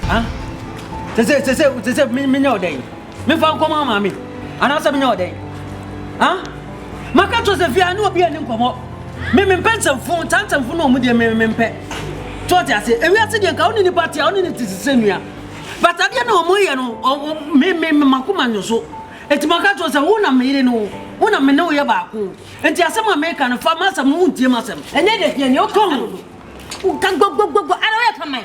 Ha? Te sɛ te sɛ te sɛ menyɛ wo dɛn? Mefa nkɔma maame anaasɛ menyɛ wo dɛn? Ha? Maka kyerɛ sɛ fia ne obi ani nkɔmmɔ. Me mempɛ nsɛmfo ntaa nsɛmfo na ɔmu deɛ me mempɛ. To ɔte ase. Ewiase deɛ nka wo ne nipa te a wo ne ne te sɛ nua. But adeɛ na ɔmo yɛ no me me me makoma nyɛ so. Eti maka kyerɛ sɛ wo na me yere no wo na me ne wo yɛ baako. Enti asɛm a meka no fa m'asɛm no wontie m'asɛm. Ɛnyɛ deɛ fia ni ɔkɔm. Woka gbɔgbɔgbɔgbɔ ara woyɛ kaman.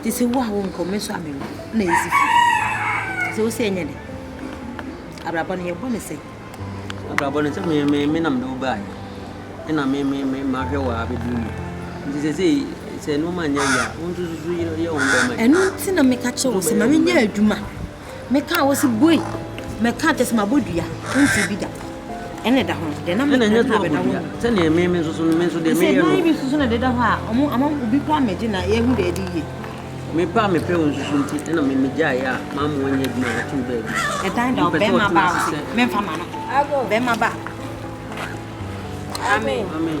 Nti sɛ wo a wonkɔ me nso a menkɔ na yɛsi fie. Sɛ wo sɛ ɛnyɛ dɛ. Abrabɔ no yɛbɔ ne sɛ. Abrabɔ no sɛ me me me nam de wo baa yɛ. Ɛna me me me mahwɛ wɔ abɛduru mu. Nti sɛ sɛ sɛ nneɛma nyɛ yɛ a wo nso susu yɛ wo bɛma. Ɛno nti na meka kyerɛ wo sɛ ma menyɛ adwuma. Meka a wɔsi boi. Meka kyɛ sɛ mabɔ dua nti bi da ɛna ɛda hɔ deɛ na meka ɛna ɛnyɛ sɛ wabɔ dua sɛdeɛ ɛme me nso so no me nso deɛ meyɛ no ɛsɛ dua bi nso so na ɛdeda hɔ a ɔmo ama obi kora mɛgye na yɛhu deɛ ɛde yie mepɛ a mepɛ wɔn nsusu nti ɛna me megyaeɛ a maa mo anya adwuma a ɔtoo baabi ɛdan da ɔbɛrima ba ase memfa ma no bɛrima ba amen amen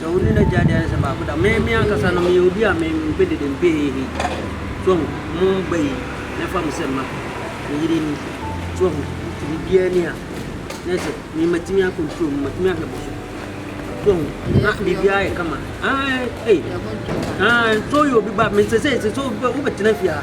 Sɛ wo ne n'agya de ayɛ sɛ baako da. Me me ankasa no meyɛ obi a me mpɛ dede mpɛ hehe. So ho mo ba yi me fa mo sɛ mma. Me yere ni. So ho nti biribiara ni a na sɛ me matumi a control mu matumi ahwɛ mo so. So ho na biribiara yɛ kama. Ah eh. Ah so yɛ obi ba me sɛ sɛ sɛ so wobɛtena fie a.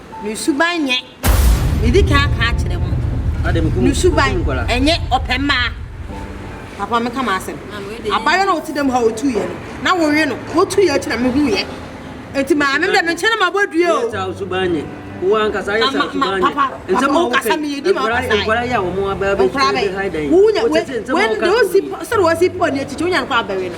Ne suban nyɛ, medi kan aka akyerɛ mo. Ne suban ɛnyɛ ɔpɛ mmaa. Papa meka m'asɛm. Abayewa na ɔte dɛm ha ɔtu yɛ no. Na wɔwe no. Wɔtu yɛ akyi na mehu yɛ. Eti maame mi dɛ me nkyɛn na mabɔ dua o. Yɛsa suban nyɛ. Wo ankasa yɛ sa suban nyɛ. Papa, papa, wo kasa mi yɛ di ma ɔkasa yɛ. Nkwadaa yɛ a wɔn abɛɛ bɛ sɛ bɛ ha dan yi. Wo nya we we de osi sɛ de osi pɔ ne etiti wo nya no kɔ abɛwe no.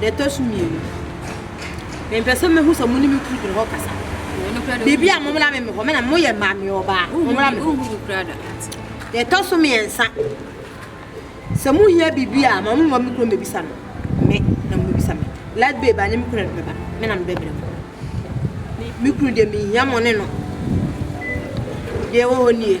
Deɛ ɛtɔ so mmienu, mempɛ sɛ mɛhu sɛ mo ne me kuru gyina hɔ kasa. Biribi a mommra me me hɔ, me na moyɛ maame ɔbaa, mommra me hɔ. Deɛ ɛtɔ so mmiɛnsa, sɛ mohia biribi a, ma momma me kuro mmɛbisa no, me na mobɛbisa me. Light babe anyɛ me kuru na mebɛba, me na mebɛbrɛ mo. Me kuru deɛ menhia mo ne no. Deɛ ɛwɔ hɔ nie.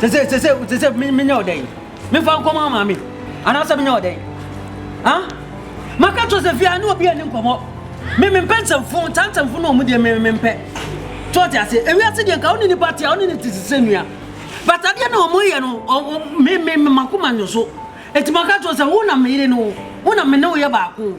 sese sese sese menyɛ ɔdɛ yi mefa nkɔmɔ ama me anaasɛ menyɛ ɔdɛ yi ah maka to sɛ fia ne obi ani nkɔmɔ me mempɛ nsɛmfo nta nsɛmfo na ɔmu deɛ me mempɛ to ɔte ase ewiase deɛ nka wo ne nipa te a wo ne ne te sese nua but adeɛ na ɔmo yɛ no me me makoma nyɛ so eti maka to sɛ wo na meyere no wo na me ne wo yɛ baako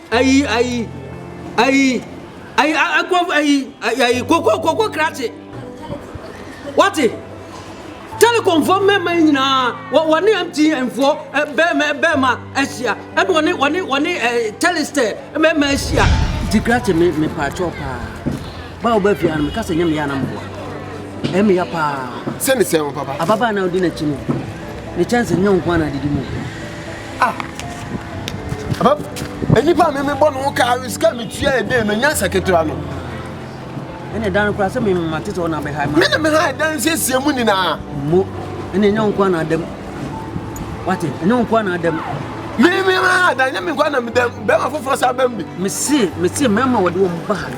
Ayi ayi ayi ayi akwa ayi ayi koko koko krakye wate telekomfoɔ mmarima yi nyinaa wɔne mtnfoɔ bɛrima bɛrima ahyia ɛna wɔne wɔne wɔne telestɛ bɛrima ahyia nti krakye me me paakyɛw paa ba wo ba fie ano meka sɛ nyɛ meyɛ anam boa ɛmi ya paa sɛ ne sɛ wo papa ababaa na ɔdi n'akyi no ne kyɛnse nyɛ wo nko ana didi mu Ah, papa, nipa mi mi bɔ ne ho kaa sika mi tua yɛ den no nya sɛ ketewa no. Ɛna ɛdan koraa sɛ mema tete hɔ na bɛhae ma. Me na mehae dan siesie mu nyinaa. Mo, ɛna ɛnyɛ wo nkoa na adam. Wate, ɛnyɛ wo nkoa na adam. Me me ma dan nyɛ me nkoa na medam. Bɛma foforɔ sa bɛm bi. Mese, mese mɛma wɔde wɔn ba ha no.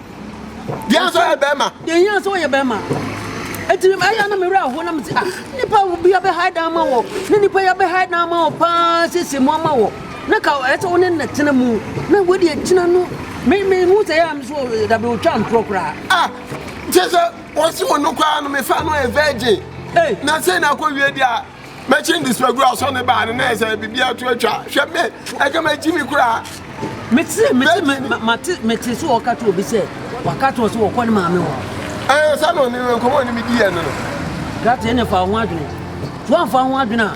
Bia nso yɛ bɛrima. Yɛnyɛ nso yɛ bɛrima. Eti ɛyɛ na mewura aho na mese ah nipa bi abɛ ha dan ma wɔ ne nipa yɛ abɛ ha dan ma wɔ paa sese mu ama wɔ na ka ɛsɛ wo ne na tena mu na wodi akyina no me me hu sɛ yɛ am so da be otwa mpro koraa. Ah kyɛ sɛ wɔsi wɔn no koraa no mefa no yɛ virgin. Hey. Na sɛ na akɔ wie deɛ Mɛkyi ndi sɛ duru asɔ ne baa no na ɛsɛ biribi ato atwa. Hwɛ me, ɛka mɛkyi mi koraa. Mete mete mete sɛ wɔka to obi sɛ waka to sɛ wɔkɔ ne maame hɔ. Ɛɛ sɛ no ne no nkɔmɔ ne medi yɛ no no. Gate ɛne fa ho adwene. To amfa ho adwene a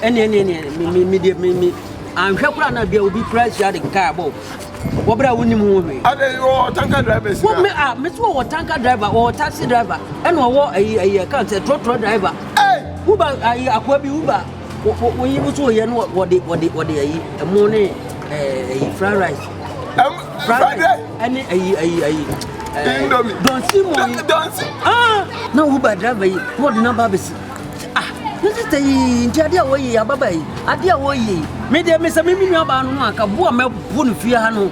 ɛne ɛne ɛne me me me me anhwɛ kura na bia obi kura hyia de kaa bɔ. wɔ bere a wonim ho hwee. adɛn wɔ tanka driver si na. a mesi wɔ wɔ tanka driver wɔ taxi driver ɛna ɔwɔ ayi ayi ɛka sɛ trɔtrɔ driver. wuba ayi akoa bi wuba woyi wusu oyɛ no wɔde wɔde wɔde ayi ɛmo ne ɛɛ ayi fried rice. fried rice ɛne ayi ayi ayi. indomie donsi mo yi donsi. na wuba driver yi na ɔde namba abɛsi. Ah, ne sista yi, nti adeɛ a wɔyɛ yi, ababa yi, adeɛ a wɔyɛ yi, me deɛ me sɛ me me nuabaa no no anka bo a mɛbo no fie ha no.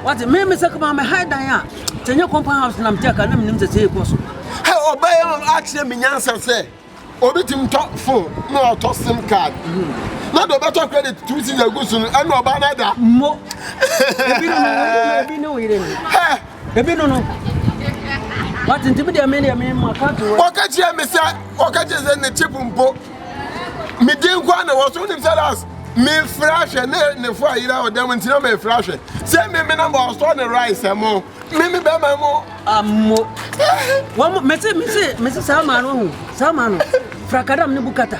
Wate, me me sɛ kama me ha dan a, sɛ nyɛ compound house na mete aka na menim sɛ sɛ ɛkɔ so. Hɛ, ɔbɛyɛ no akyerɛ me nyansa sɛ, obi tim tɔ phone na ɔtɔ sim card. Na deɛ ɔbɛtɔ credit two season agu so no, ɛna ɔbaa no ada. Mo, ebi no, ebi no yere no. Hɛ, Ebi no no. Wate ntimi deɛ me deɛ me ma ka to wɔ. Ɔka kyerɛ me sɛ ɔka kyerɛ sɛ ne chip mpo. Me din kwa na wɔso nim sɛ das me fra hwɛ ne ne fo ayira ɔdam ntina me fra hwɛ. Sɛ me me na ma ɔsɔ ne rice mo. Me me bɛ ma mo. Amo. Wɔn me se me se me se saa ma no hu. Saa ma no. Frakadam ne bukata.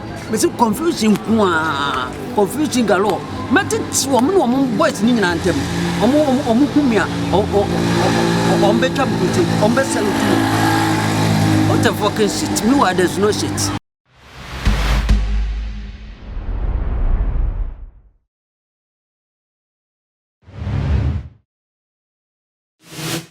Mese confusion nko aa confusion galore mɛtete wɔn ne wɔn boys ne nyinaa ntɛm wɔn wɔn wɔn hu mi a wɔn bɛtwa mi kote wɔn bɛsɛ no tu what the fucking shit mi wa there's no shit. you